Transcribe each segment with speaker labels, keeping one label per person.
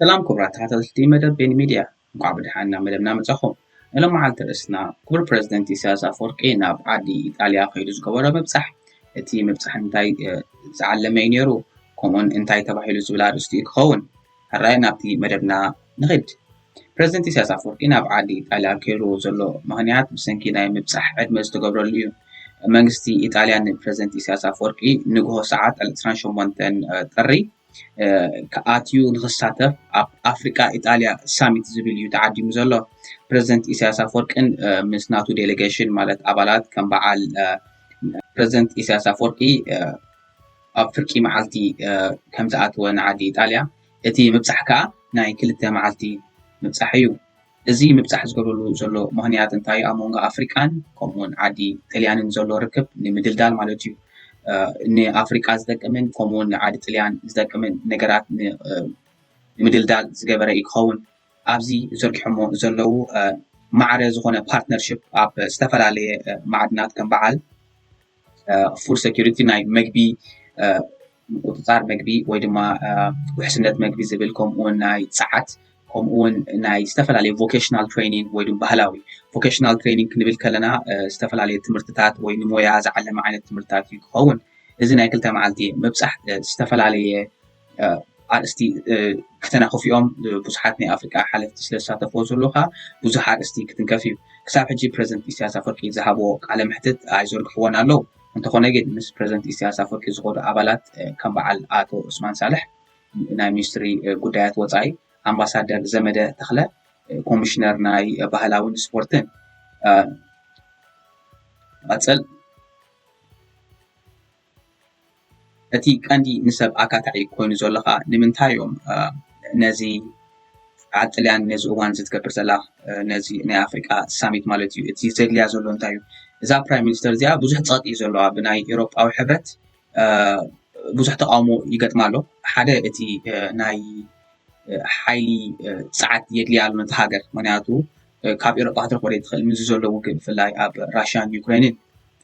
Speaker 1: ሰላም ክቡራት ተኸታተልቲ መደብ ቤን ሚድያ እንኳዕ ብድሓን ናብ መደብና መጻኹም ናይ ሎመዓልቲ ርእስና ክቡር ፕረዚደንት ኢሳያስ ኣፈወርቂ ናብ ዓዲ ኢጣልያ ከይዱ ዝገበሮ ምብጻሕ እቲ ምብጻሕ እንታይ ዝዓለመ እዩ ነይሩ ከምኡውን እንታይ ተባሂሉ ዝብል ኣርእስቲ እዩ ክኸውን ሕራይ ናብቲ መደብና ንኽድ ፕረዚደንት ኢሳያስ ኣፈወርቂ ናብ ዓዲ ኢጣልያ ከይርዎ ዘሎ ምክንያት ብሰንኪ ናይ ምብጻሕ ዕድመ ዝተገብረሉ እዩ መንግስቲ ኢጣልያ ንፕረዚደንት ኢሳያስ ኣፈወርቂ ንግሆ ሰዓት 28 ጥሪ ኣትዩ ንክሳተፍ ኣብ ኣፍሪቃ ኢጣልያ ሳሚት ዝብል እዩ ተዓዲሙ ዘሎ ፕረዚደንት ኢሳያስ ኣፈወርቅን ምስ ናቱ ዴሌጌሽን ማለት ኣባላት ከም በዓል ፕረዚደንት ኢሳያስ ኣፈወርቂ ኣብ ፍርቂ መዓልቲ ከምዝኣተወ ንዓዲ ኢጣልያ እቲ ምብጻሕ ከኣ ናይ ክልተ መዓልቲ ምብጻሕ እዩ እዚ ምብጻሕ ዝገብረሉ ዘሎ ምኽንያት እንታይ ኣብ መንጎ ኣፍሪቃን ከምኡውን ዓዲ ጥልያንን ዘሎ ርክብ ንምድልዳል ማለት እዩ። ንኣፍሪቃ ዝጠቅምን ከምኡውን ንዓዲ ጥልያን ዝጠቅምን ነገራት ንምድልዳል ዝገበረ እዩ ክኸውን ኣብዚ ዘርጊሖሞ ዘለዉ ማዕረ ዝኾነ ፓርትነርሽፕ ኣብ ዝተፈላለየ ማዕድናት ከም በዓል ፉድ ሴኪሪቲ ናይ መግቢ ምቁፅፃር መግቢ ወይ ድማ ውሕስነት መግቢ ዝብል ከምኡውን ናይ ፀዓት ከምኡውን ናይ ዝተፈላለዩ ቮኬሽናል ትሬኒንግ ወይ ድማ ባህላዊ ቮኬሽናል ትሬኒንግ ክንብል ከለና ዝተፈላለዩ ትምህርትታት ወይ ንሞያ ዝዓለመ ዓይነት ትምህርትታት እዩ ክኸውን እዚ ናይ ክልተ መዓልቲ ምብፃሕ ዝተፈላለየ ኣርእስቲ ክተናኽፍ እዮም ብዙሓት ናይ ኣፍሪቃ ሓለፍቲ ስለ ዝሳተፍዎ ዘለካ ብዙሕ ኣርእስቲ ክትንከፍ እዩ ክሳብ ሕጂ ፕረዚደንት ኢሳያስ ኣፈርቂ ዝሃብዎ ቃለ መሕትት ኣይዘርግሕዎን ኣለዉ እንተኾነ ግን ምስ ፕረዚደንት ኢሳያስ ኣፈርቂ ዝኾዱ ኣባላት ከም በዓል ኣቶ ዑስማን ሳልሕ ናይ ሚኒስትሪ ጉዳያት ወፃኢ ኣምባሳደር ዘመደ ተኽለ ኮሚሽነር ናይ ባህላውን ስፖርትን ቀፅል እቲ ቀንዲ ንሰብ ኣካታዒ ኮይኑ ዘሎ ከኣ ንምንታይ እዮም ነዚ ኣብ ጥልያን ነዚ እዋን እዚ ትገብር ዘላ ነዚ ናይ ኣፍሪቃ ሳሚት ማለት እዩ እቲ ዘድልያ ዘሎ እንታይ እዩ እዛ ፕራይም ሚኒስተር እዚኣ ብዙሕ ጸቕጢ እዩ ዘለዋ ብናይ ኤሮጳዊ ሕብረት ብዙሕ ተቃውሞ ይገጥማ ኣሎ ሓደ እቲ ናይ ሓይሊ ጸዓት የድልያ ኣሎ ነቲ ሃገር ምክንያቱ ካብ ኤሮጳ ክትረክቦ ዘይትኽእል ምዚ ዘሎ ውግእ ብፍላይ ኣብ ራሽያን ዩክሬንን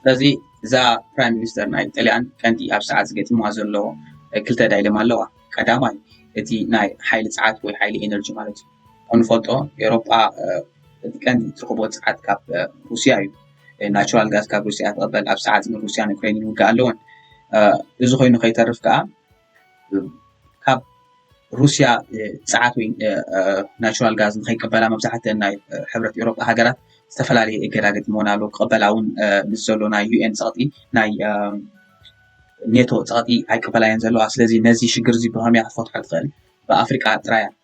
Speaker 2: ስለዚ
Speaker 1: እዛ ፕራይም ሚኒስተር ናይ ጥልያን ቀንዲ ኣብ ሰዓት ዝገጢምዋ ዘሎ ክልተ ዳይለማ ኣለዋ ቀዳማይ እቲ ናይ ሓይሊ ፀዓት ወይ ሓይሊ ኤነርጂ ማለት እዩ ከምንፈልጦ ኤሮጳ እቲ ቀንዲ እትረኽቦ ፀዓት ካብ ሩስያ እዩ ናቹራል ጋዝ ካብ ሩስያ ትቐበል ኣብ ሰዓት ግን ሩስያን ዩክሬንን ውግእ ኣለወን እዚ ኮይኑ ከይተርፍ ከዓ ካብ ሩስያ ጸዓት ወይ ናቹራል ጋዝ ንኸይቀበላ መብዛሕትአን ናይ ሕብረት ኤውሮጳ ሃገራት ዝተፈላለየ እገዳ ገጥሞን ኣሎ ክቐበላ እውን ምስ ዘሎ ናይ ዩኤን ፀቕጢ ናይ ኔቶ ፀቕጢ ኣይቀበላየን ዘለዋ ስለዚ ነዚ ሽግር እዚ ብኸመይ ክትፈትሖ ትኽእል ብኣፍሪቃ ጥራያ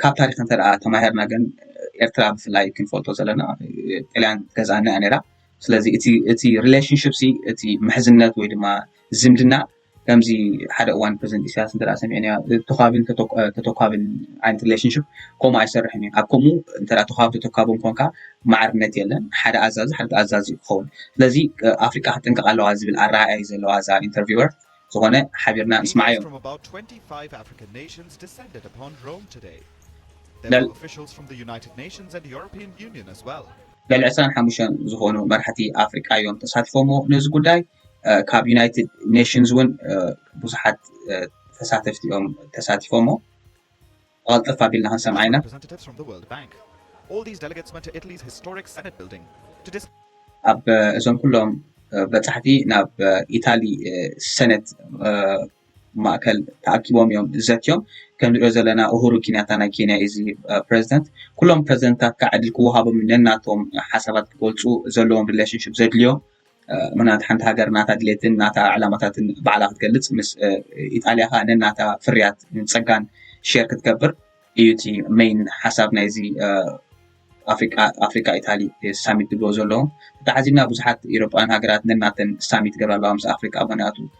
Speaker 1: ካብ ታሪኽ እንተ ተማሂርና ግን ኤርትራ ብፍላይ ክንፈልጦ ዘለና ጥልያን ገዛኣና እያ ነራ ስለዚ እቲ ሪሌሽንሽፕ እቲ ምሕዝነት ወይ ድማ ዝምድና ከምዚ ሓደ እዋን ፕረዚደንት ኢሳያስ እንተ ሰሚዐ ተኳብን ተተኳብን ዓይነት ሪሌሽንሽፕ ከምኡ ኣይሰርሕን እዩ ኣብ ከምኡ እተ ተኳብ ተተኳብን ኮንካ ማዕርነት የለን ሓደ ኣዛዚ ሓደ ኣዛዚ ክኸውን ስለዚ ኣፍሪቃ ክጥንቀቕ ኣለዋ ዝብል ኣረኣእያ እዩ ዘለዋ እዛ ኢንተርቪወር ዝኾነ ሓቢርና
Speaker 3: ንስማዓዮ። ልዕሊ ዕስራን ሓሙሽተን
Speaker 1: ዝኾኑ መራሕቲ ኣፍሪቃ እዮም ተሳቲፎሞ ነዚ ጉዳይ ካብ ዩናይትድ ኔሽንስ እውን ብዙሓት ተሳተፍቲ እዮም ተሳቲፎሞ። ቐልጠፍ ኣቢልና
Speaker 3: ክንሰምዓ ኢና። ኣብ እዞም
Speaker 1: ኩሎም በጻሕቲ ናብ ኢታሊ ሰነት ማእከል ተኣኪቦም እዮም ዘትዮም። ከም ንሪኦ ዘለና ኡሁሩ ኪንያታ ናይ ኬንያ እዩ እዚ ፕረዚደንት። ኩሎም ፕረዚደንታት ከዓ ዕድል ክወሃቦም ነናቶም ሓሳባት ክገልጹ ዘለዎም ሪሌሽንሽፕ ዘድልዮ ምኽንያቱ ሓንቲ ሃገር ናታ ድሌትን ናታ ዕላማታትን ባዕላ ክትገልፅ ምስ ኢጣልያ ኸዓ ነናታ ፍርያት ፀጋን ሼር ክትገብር እዩ እቲ መይን ሓሳብ ናይዚ ኣፍሪካ ኢታሊ ሳሚት ዝብልዎ ዘለዉ ተተሓዚብና ብዙሓት ኤሮጳውያን ሃገራት ነናተን ሳሚት ይገብራ ኣለዋ ምስ ኣፍሪካ ምኽንያቱ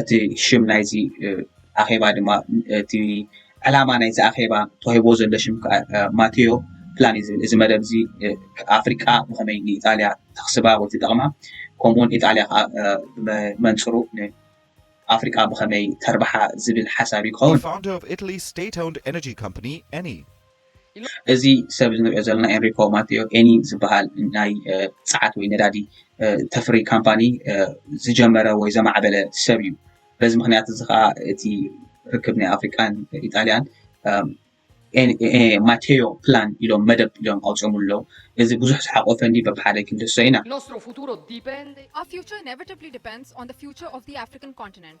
Speaker 1: እቲ ሽም ናይዚ ኣኼባ ድማ እቲ ዕላማ ናይዚ ኣኼባ ተዋሂቦ ዘሎ ሽም ከዓ ማቴዮ ፕላን እዩ ዝብል እዚ መደብ እዚ ኣፍሪቃ ብኸመይ ንኢጣልያ ተኽስባ ወይ ትጠቕማ ከምኡውን ኢጣልያ ከዓ መንፅሩ ኣፍሪቃ ብኸመይ ተርብሓ ዝብል ሓሳብ
Speaker 3: እዩ ክኸውን እዚ
Speaker 1: ሰብ እዚ ንሪኦ ዘለና ኤንሪኮ ማቴዮ ኤኒ ዝበሃል ናይ ጸዓት ወይ ነዳዲ ተፍሪ ካምፓኒ ዝጀመረ ወይ ዘማዕበለ ሰብ እዩ። በዚ ምክንያት እዚ ከዓ እቲ ርክብ ናይ ኣፍሪቃን ኢጣልያን ማቴዮ ፕላን ኢሎም መደብ ኢሎም ኣውጺኦምሉ ኣለዉ። እዚ ብዙሕ ዝሓቖፈ እንድዩ በብሓደ ክንድህሶ ኢና። Nostro futuro dipende.
Speaker 4: Our future inevitably depends on the future of the African continent.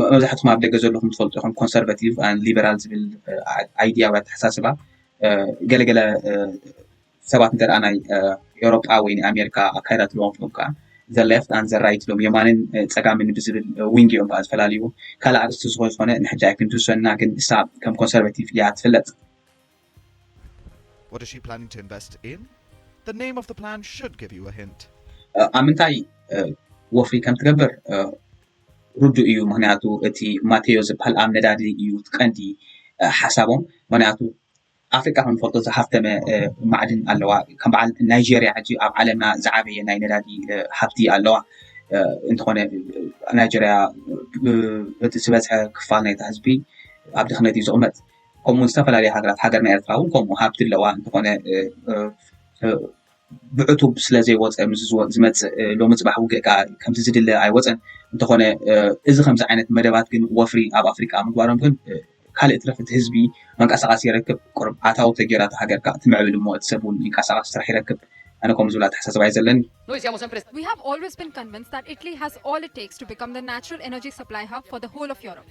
Speaker 1: መብዛሕትኹም ኣብ ደገ ዘለኹም ትፈልጡ ኢኹም ኮንሰርቫቲቭ ሊበራል ዝብል ኣይድያ ወይ ኣተሓሳስባ ገለገለ ሰባት እንተ ናይ ኤውሮጳ ወይ ናይ ኣሜሪካ ኣካይዳ ትለዎም ፍም ከዓ ዘለፍት ኣን ዘራይት ሎም የማንን ፀጋምን ብዝብል ዊንግ እዮም ከዓ ዝፈላለዩ ካልእ ኣርስቲ ዝኾ ዝኾነ ንሕጂ ኣይክንትውሰና ግን እሳ ከም ኮንሰርቫቲቭ እያ ትፍለጥ
Speaker 3: What is she planning to invest in? The name of the plan should give you a hint. ኣብ
Speaker 1: ምንታይ ወፍሪ ከም ትገብር ርዱእ እዩ ምክንያቱ እቲ ማቴዮ ዝበሃል ኣብ ነዳዲ እዩ ቀንዲ ሓሳቦም ምክንያቱ ኣፍሪቃ ከም ንፈልጦ ዝሃፍተመ ማዕድን ኣለዋ ከም በዓል ናይጀርያ ሕጂ ኣብ ዓለምና ዝዓበየ ናይ ነዳዲ ሃብቲ ኣለዋ እንተኾነ ናይጀርያ እቲ ዝበዝሐ ክፋል ናይቲ ህዝቢ ኣብ ድኽነት እዩ ዝቕመጥ ከምኡ ዝተፈላለየ ሃገራት ሃገርና ኤርትራ እውን ከምኡ ሃብቲ ኣለዋ እንተኾነ ብዕቱብ ስለ ዘይወፀ ምስ ዝመፅእ ሎሚ ፅባሕ ውግእ ከዓ ከምቲ ዝድለ ኣይወፀን እንተኾነ እዚ ከምዚ ዓይነት መደባት ግን ወፍሪ ኣብ ኣፍሪቃ ምግባሮም ግን ካልእ ትረፍ እቲ ህዝቢ መንቀሳቐሲ ይረክብ ቅርብ ኣታዊ ተጌራ እቲ ሃገር ከዓ ትምዕብል እሞ እቲ ሰብ እውን ይንቀሳቐስ ስራሕ ይረክብ ኣነ ከምኡ ዝብል ኣተሓሳስባ እዩ ዘለኒ We have
Speaker 4: always been convinced that Italy has all it takes to become the natural energy supply hub for the whole of Europe.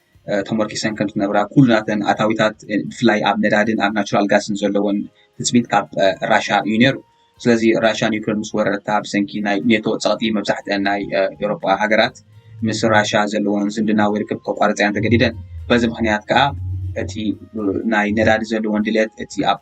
Speaker 1: ተመርኪሰን ከም ዝነብራ ኩሉናተን ኣታዊታት ብፍላይ ኣብ ነዳድን ኣብ ናቹራል ጋስን ዘለወን ትፅቢት ካብ ራሻ እዩ ነይሩ ስለዚ ራሽያ ዩክሬን ምስ ወረረታ ብሰንኪ ናይ ኔቶ ፀቕጢ መብዛሕትአን ናይ ኤውሮጳ ሃገራት ምስ ራሽያ ዘለዎን ዝምድና ወይ ርክብ ከቋርፀ እያን ተገዲደን በዚ ምክንያት ከዓ እቲ ናይ ነዳዲ ዘለዎን ድሌት እቲ ኣብ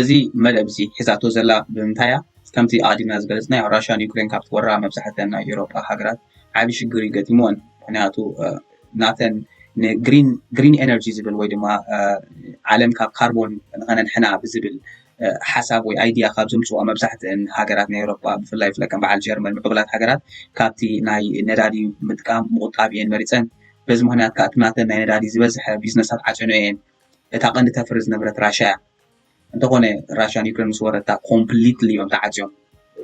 Speaker 3: እዚ
Speaker 1: መደብ እዚ ሒዛቶ ዘላ ብምንታይ እያ? ከምቲ ኣቐዲምና ዝገለፅናዮ ራሽያ ንዩክሬን ካብ እትወራ መብዛሕተን ናይ ኤውሮጳ ሃገራት ዓብዪ ሽግር እዩ ገጢምወን። ምክንያቱ ናተን ንግሪን ኤነርጂ ዝብል ወይ ድማ ዓለም ካብ ካርቦን ንኸነድሕና ብዝብል ሓሳብ ወይ ኣይድያ ካብ ዘምፅዋ መብዛሕተን ሃገራት ናይ ኤውሮጳ ብፍላይ ብፍላይ ከም በዓል ጀርመን ምዕቡላት ሃገራት ካብቲ ናይ ነዳዲ ምጥቃም ምቑጣብ እየን መሪፀን። በዚ ምክንያት ከዓ እቲ ናተን ናይ ነዳዲ ዝበዝሐ ቢዝነሳት ዓፅዮን እየን። እታ ቀንዲ ተፍሪ ዝነበረት ራሻ እያ እንተኾነ ራሻ ዩክሬን ምስ ወረታ ኮምፕሊትሊ እዮም ተዓፅዮም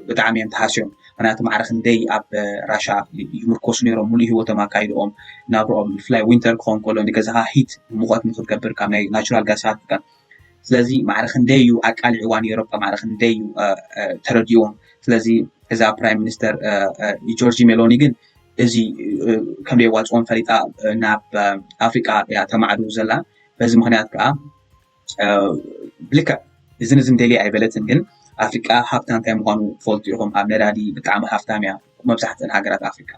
Speaker 1: ብጣዕሚ እዮም ተሃስዮም ምክንያቱ ማዕረ ክንደይ ኣብ ራሻ ይምርኮሱ ነይሮም ሙሉእ ሂወቶም ኣካይድኦም ናብርኦም ብፍላይ ዊንተር ክኸውን ከሎ ንገዛኻ ሂት ሙቐት ንክትገብር ካብ ናይ ናቹራል ጋሳት ስለዚ ማዕረ ክንደይ እዩ ኣቃሊዕዋ ነይሮም ማዕረ ክንደይ እዩ ተረዲዎም ስለዚ እዛ ፕራይም ሚኒስተር ጆርጂ ሜሎኒ ግን እዚ ከም ዘየዋፅኦም ፈሊጣ ናብ ኣፍሪቃ እያ ተማዕድው ዘላ በዚ ምክንያት ከዓ ብልክዕ እዝን እዝን ደልየ ኣይበለትን ግን ኣፍሪቃ ሃብታ እንታይ ምኳኑ ትፈልጡ ኢኹም ኣብ ነዳዲ ብጣዕሚ ሃፍታም እያ መብዛሕትአን ሃገራት ኣፍሪቃ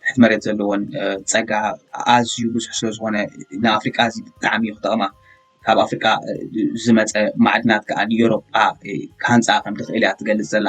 Speaker 1: ትሕቲ መሬት ዘለዎን ፀጋ ኣዝዩ ብዙሕ ስለዝኾነ ንኣፍሪቃ እዚ ብጣዕሚ እዩ ክጠቕማ ካብ ኣፍሪቃ ዝመፀ ማዕድናት ከዓ ንኤሮጳ ክሃንፃ ከም ትኽእል እያ ትገልፅ ዘላ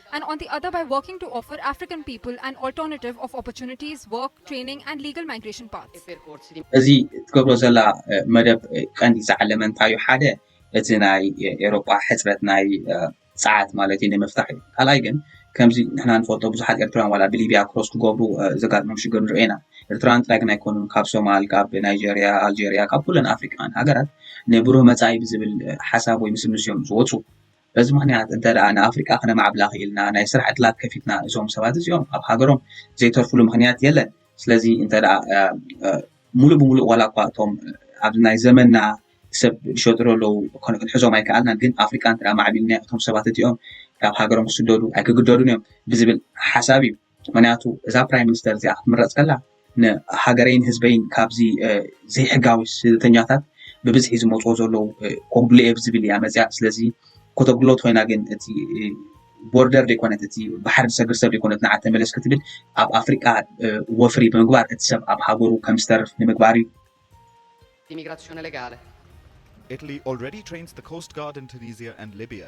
Speaker 4: and on the other by working to offer African people an alternative of opportunities, work, training and legal migration paths. እዚ
Speaker 1: ትገብሮ ዘላ መደብ ቀንዲ ዝዓለመ እንታይ እዩ ሓደ እቲ ናይ ኤሮጳ ሕፅረት ናይ ፀዓት ማለት እዩ ንምፍታሕ እዩ ካልኣይ ግን ከምዚ ንሕና ንፈልጦ ብዙሓት ኤርትራውያን ዋላ ብሊብያ ክሮስ ክገብሩ ዘጋጥሞም ሽግር ንሪኦ ኢና ኤርትራውያን ጥራይ ግን ኣይኮኑን ካብ ሶማል ካብ ናይጀርያ ኣልጀርያ ካብ ኩለን ኣፍሪካውያን ሃገራት ንብሩህ መፃኢ ብዝብል ሓሳብ ወይ ምስምስ እዮም ዝወፁ በዚ ምኽንያት እንተ ደኣ ንኣፍሪቃ ክነማዕብላ ክኢልና ናይ ስራሕ ዕድላት ከፊትና እዞም ሰባት እዚኦም ኣብ ሃገሮም ዘይተርፍሉ ምኽንያት የለን ስለዚ እንተ ደኣ ሙሉእ ብሙሉእ ዋላ እኳ እቶም ኣብዚ ናይ ዘመንና ሰብ ዝሸጥሩ ኣለዉ ክንሕዞም ኣይከኣልናን ግን ኣፍሪቃ እንተ ማዕቢልና እቶም ሰባት እቲኦም ካብ ሃገሮም ክስደዱ ኣይክግደዱን እዮም ብዝብል ሓሳብ እዩ ምክንያቱ እዛ ፕራይም ሚኒስተር እዚኣ ክትምረፅ ከላ ንሃገረይን ህዝበይን ካብዚ ዘይሕጋዊ ስደተኛታት ብብዝሒ ዝመፅኦ ዘለዉ ኮጉድልየ ብዝብል እያ መፅያ ስለዚ ኮተጉድሎት ኮይና ግን እቲ ቦርደር ዘይኮነት እቲ ባሕሪ ዝሰግር ሰብ ዘይኮነት ንዓ ተመለስ ክትብል ኣብ ኣፍሪቃ ወፍሪ ብምግባር እቲ ሰብ ኣብ ሃገሩ ከም ዝተርፍ
Speaker 5: ንምግባር
Speaker 1: እዩ ኢሚግራሲዮነ
Speaker 5: ሌጋለ
Speaker 1: Italy
Speaker 3: already trains the Coast Guard in Tunisia and Libya.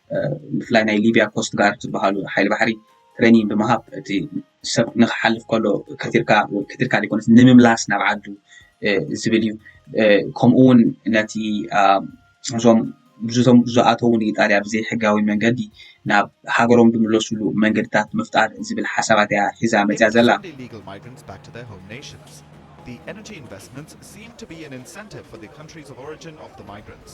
Speaker 1: ብፍላይ ናይ ሊብያ ኮስት ጋርድ ዝበሃሉ ሓይሊ ባሕሪ ትሬኒንግ ብምሃብ እቲ ሰብ ንክሓልፍ ከሎ ከቲርካ ከቲርካ ዘይኮነስ ንምምላስ ናብ ዓዱ ዝብል እዩ ከምኡ እውን ነቲ እዞም ብዙቶም ዝኣተዉ ንኢጣልያ ብዘይ ሕጋዊ መንገዲ ናብ ሃገሮም ዝምለስሉ መንገድታት ምፍጣር ዝብል ሓሳባት እያ ሒዛ መፅያ ዘላ
Speaker 3: The energy investments seem to be an incentive for the countries of origin of the migrants.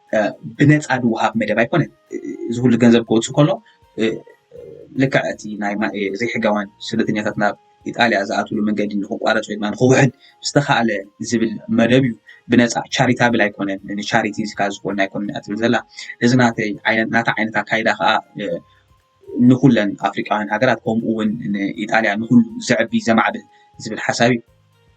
Speaker 1: ብነፃ ዝወሃብ መደብ ኣይኮነ እዚ ኩሉ ገንዘብ ክወፅእ ከሎ ልክዕ እቲ ናይ ዘይሕጋውያን ስደተኛታት ናብ ኢጣልያ ዝኣትሉ መንገዲ ንክቋረፅ ወይ ድማ ንክውሕድ ዝተካእለ ዝብል መደብ እዩ ብነፃ ቻሪታብል ኣይኮነን ንቻሪቲ ዝካ ዝኮነ ኣይኮነ ትብል ዘላ እዚ ናተ ናተ ዓይነት ኣካይዳ ከዓ ንኩለን ኣፍሪቃውያን ሃገራት ከምኡ እውን ንኢጣልያ ንኩሉ ዘዕቢ ዘማዕብል ዝብል ሓሳብ እዩ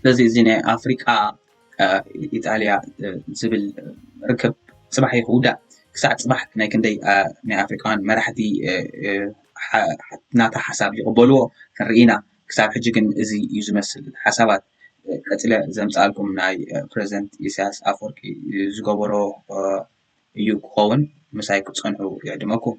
Speaker 3: ስለዚ እዚ
Speaker 1: ናይ ኣፍሪቃ ኢጣልያ ዝብል ርክብ ፅባሕ እዩ ክውዳእ ክሳዕ ፅባሕ ናይ ክንደይ ናይ ኣፍሪቃውያን መራሕቲ ናታ ሓሳብ ይቕበልዎ ክንርኢ ኢና ክሳብ ሕጂ ግን እዚ እዩ ዝመስል ሓሳባት ቀፅለ ዘምፃኣልኩም ናይ ፕረዚደንት ኢሳያስ ኣፈወርቂ ዝገበሮ እዩ ክኸውን ምሳይ ክትፀንሑ ይዕድመኩም